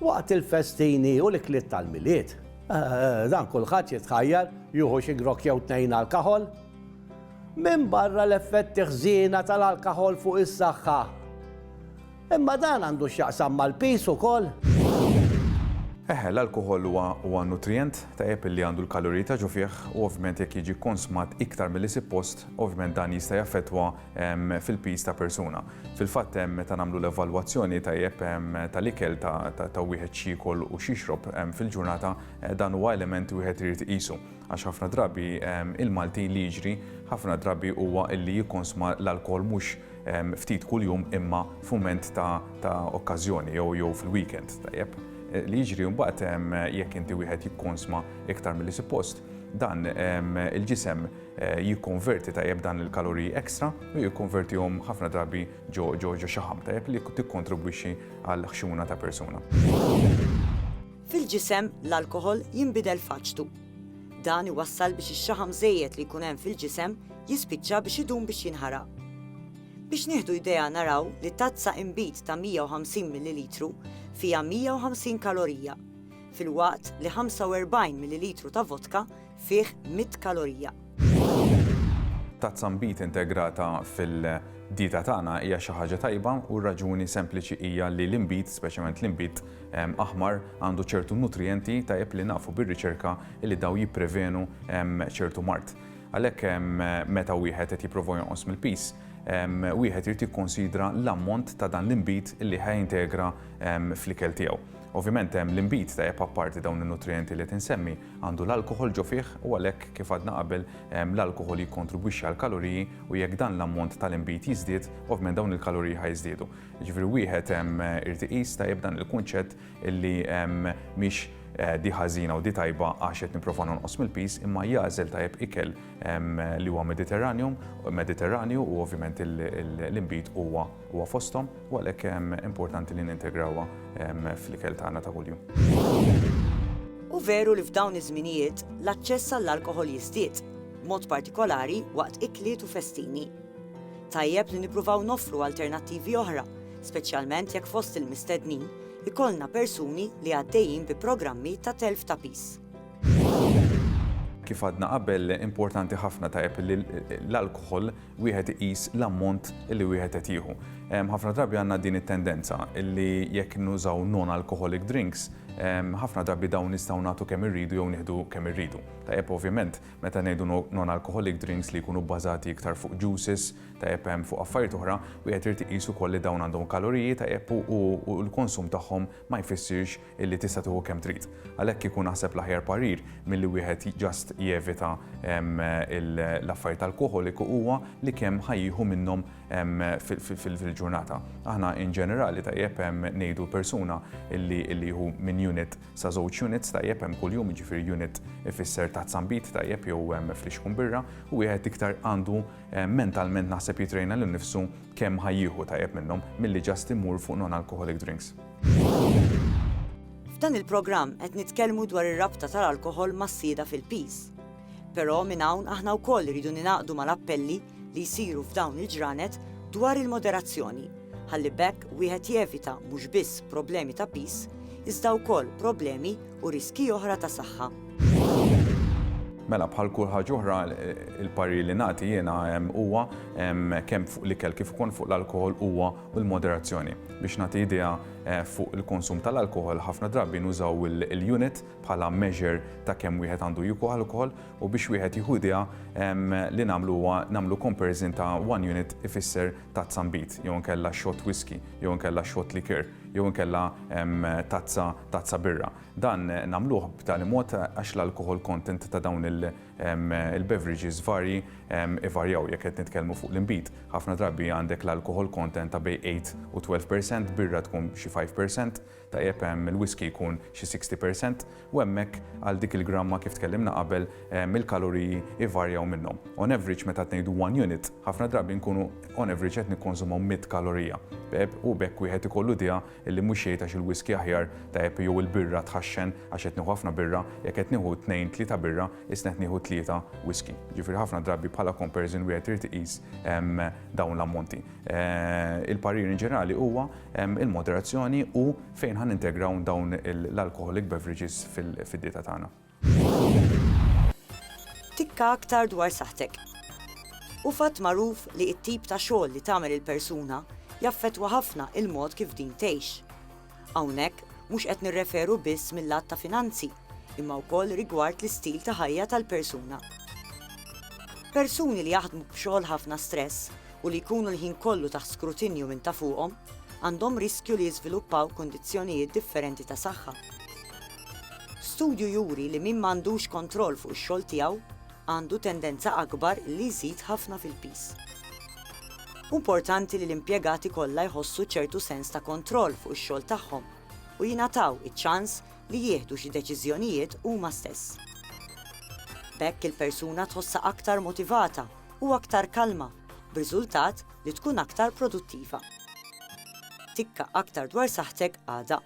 Waqt il-festini u l-ikliet tal-Milied, dan kulħadd jitħajjar jieħu xi grokk jew tnejn alkaħol. Minbarra l-effetti ħżiena tal-alkaħol fuq is-saħħa. Imma dan għandu x'jaqsam mal-piż ukoll? Eħe, l-alkoħol huwa nutrijent tajjeb li għandu l-kaloriji ta' ġo fih u ovvjament jekk jiġi konsmat iktar milli suppost, ovvjament dan jista' jaffettwa fil-piż ta' persuna. Fil-fatt meta nagħmlu l-evalwazzjoni tajjeb tal-ikel ta' wieħed x'jiekol u x'jixrob fil-ġurnata dan huwa element wieħed irid iqisu għax ħafna drabi il-Malti li jiġri ħafna drabi huwa li jikkonsma l-alkoħol mhux ftit kuljum imma f'mument ta' okkażjoni jew fil-weekend tajjeb. Li jiġri mbagħad jekk inti wieħed jikkonsma iktar milli suppost dan il-ġisem jikkonverti tajjeb dan il-kaloriji extra u jikkonvertihom ħafna drabi ġo ġo ġo xaħam tajjeb li tikkontribwixxi għal ħxuna ta' persuna. Fil-ġisem l-alkoħol jinbidel f'aċtu. Dan iwassal biex ix-xaħam żejjed li jkun hemm fil-ġisem jispiċċa biex idum biex jinħaraq. Biex nieħdu idea naraw li tazza inbid ta' 150 millilitru fiha 150 kalorija, filwaqt li 45 millilitru ta' vodka fih 100 kalorija. Tazza nbid integrata fil-dieta tagħna hija xi ħaġa tajba u r-raġuni sempliċi hija li l-inbid, speċjalment l-inbid ehm, aħmar, għandu ċertu nutrijenti tajjeb li nafu bir-riċerka li daw jipprevenu ehm, ċertu mart. Għalhekk ehm, meta wieħed qed jipprova jonqos mill-pis, wieħed irid jikkonsidra l-ammont ta' dan l-inbid li ħajintegra fl-ikel tiegħu. Ovvjament hemm l-inbid tajjeb apparti dawn in-nutrijenti li tinsemmi, Għandu l-alkoħol ġo fih u għalhekk, kif għadna qabel, l-alkoħol jikkontribwixxi għall-kaloriji u jekk dan l-ammont tal-inbid jiżdied, ovvjament dawn il-kaloriji ħa jiżdiedu. Jiġifieri wieħed irid iqis tajjeb dan il-kunċett illi mhix di ħażina u di tajba għax qed nipprova nonqos mill-piż imma jagħżel tajjeb ikel li huwa Mediterranjum, Mediterranju u ovvjament l-inbid huwa Huwa fosthom u għalhekk hemm importanti li nintegrawha fl-ikel tagħna ta' kuljum. Hu veru li f'dawn iż-żminijiet l-aċċess għall-alkoħol jiżdied, b'mod partikolari waqt ikliet u festini. Tajjeb li nippruvaw noffru alternattivi oħra, speċjalment jekk fost il-mistednin ikollna persuni li għaddejjin bi programmi ta' telf ta' piż. Kif għadna qabel, importanti ħafna tajjeb li l-alkoħol wieħed iqis l-ammont li wieħed qed jieħu. Ħafna drabi għandna din it-tendenza li jekk nużaw non-alcoholic drinks, ħafna drabi dawn nistgħu nagħtu kemm irridu jew nieħdu kemm irridu. Tajjeb ovvjament, meta ngħidu non-alcoholic drinks li jkunu bbażati iktar fuq juices, tajjeb hemm fuq affarijiet oħra, wieħed irid iqis ukoll li dawn għandhom kaloriji tajjeb u l-konsum tagħhom ma jfissirx illi tista' tieħu kemm trid. Għalhekk kieku naħseb l-aħjar parir milli wieħed just jevita l-affarijiet alkoħoliku huwa li kemm ħajjieħu minnhom fil-ġurnata. Aħna in ġenerali tajjeb ngħidu persuna illi jieħu minn unit sa żewġ units tajjeb hemm kuljum jiġifieri unit ifisser ta' zambit tajjeb jew flixkun birra u wieħed iktar għandu mentalment naħseb jitrejna lil nifsu kemm ħajjieħu tajjeb minnhom milli just imur fuq non-alcoholic drinks. F'dan il-programm qed nitkellmu dwar ir-rabta tal-alkoħol mas-sjieda fil-piż. Però minn hawn aħna wkoll iridu ningħaqdu mal-appelli li jsiru f'dawn il-ġranet dwar il-moderazzjoni, ħalli b'hekk wieħed jevita mhux biss problemi ta' piż, iżda wkoll problemi u riskji oħra ta' saħħa. Mela bħal kull ħaġa oħra il-parir li nagħti jiena huwa kemm fuq l-ikel kif ukoll fuq l-alkohol huwa u l-moderazzjoni. Biex nagħti idea fuq il-konsum tal-alkoħol, ħafna drabi nużaw il-unit bħala measure ta' kemm wieħed għandu jieku alkoħol u biex wieħed jieħu idea li nagħmlu huwa nagħmlu comparison ta' one unit ifisser tazza nbid jew inkella shot whiskey jew inkella shot liqueur jew inkella tazza tazza birra. Dan nagħmluh b'tali mod għax l-alkoħol content ta' dawn il- Il-beverages varji ivarjaw jekk qed nitkellmu fuq l-inbid. Ħafna drabi għandek l-alcohol content ta' bejn 8 u 12 percent, birra tkun xi 5 percent, tajjeb, il-whiskey jkun xi 60 percent, u hemmhekk għal dik il-gramma kif tkellimna qabel il-kaloriji ivarjaw minnhom. On average meta qed ngħidu one unit, ħafna drabi nkunu on average qed nikkonsumaw mitt kalorija, u b'hekk wieħed ikollu idea Illi mhux jgħid għax il-whiskey aħjar, tajjeb jew il-birra tħaxxen għax qed nieħu ħafna birra, jekk qed nieħu tnejn, tlieta birra, isna qed nieħu tlieta whiskey. Jiġifieri ħafna drabi bħala comparison wieħed irid iqis dawn l-ammonti. Il-parir in ġenerali huwa il-moderazzjoni u fejn ħa nintegraw dawn l-alcoholic beverages fid-dieta tagħna. Tikka aktar dwar saħħtek. Hu fatt magħruf li t-tip ta' xogħol li tagħmel il-persuna jaffettwa ħafna l-mod kif din tgħix. Hawnhekk mhux qed nirreferu biss mil-lat ta' finanzi imma wkoll rigward l-istil ta' ħajja tal-persuna. Persuni li jaħdmu b'xogħol ħafna stress u li jkunu l-ħin kollu taħt skrutinju minn ta' fuqhom għandhom riskju li jiżviluppaw kundizzjonijiet differenti ta' saħħa. Studju juri li min m'għandux kontroll fuq ix-xogħol tiegħu għandu tendenza akbar li jżid ħafna fil-piż. Hu mportanti li l-impjegati kollha jħossu ċertu sens ta' kontroll fuq ix-xogħol tagħhom u jingħataw iċ-ċans li jieħdu xi deċiżjonijiet huma stess. B'hekk il-persuna tħossha aktar motivata u aktar kalma, b'riżultat li tkun aktar produttiva. Tikka aktar dwar saħħtek għada.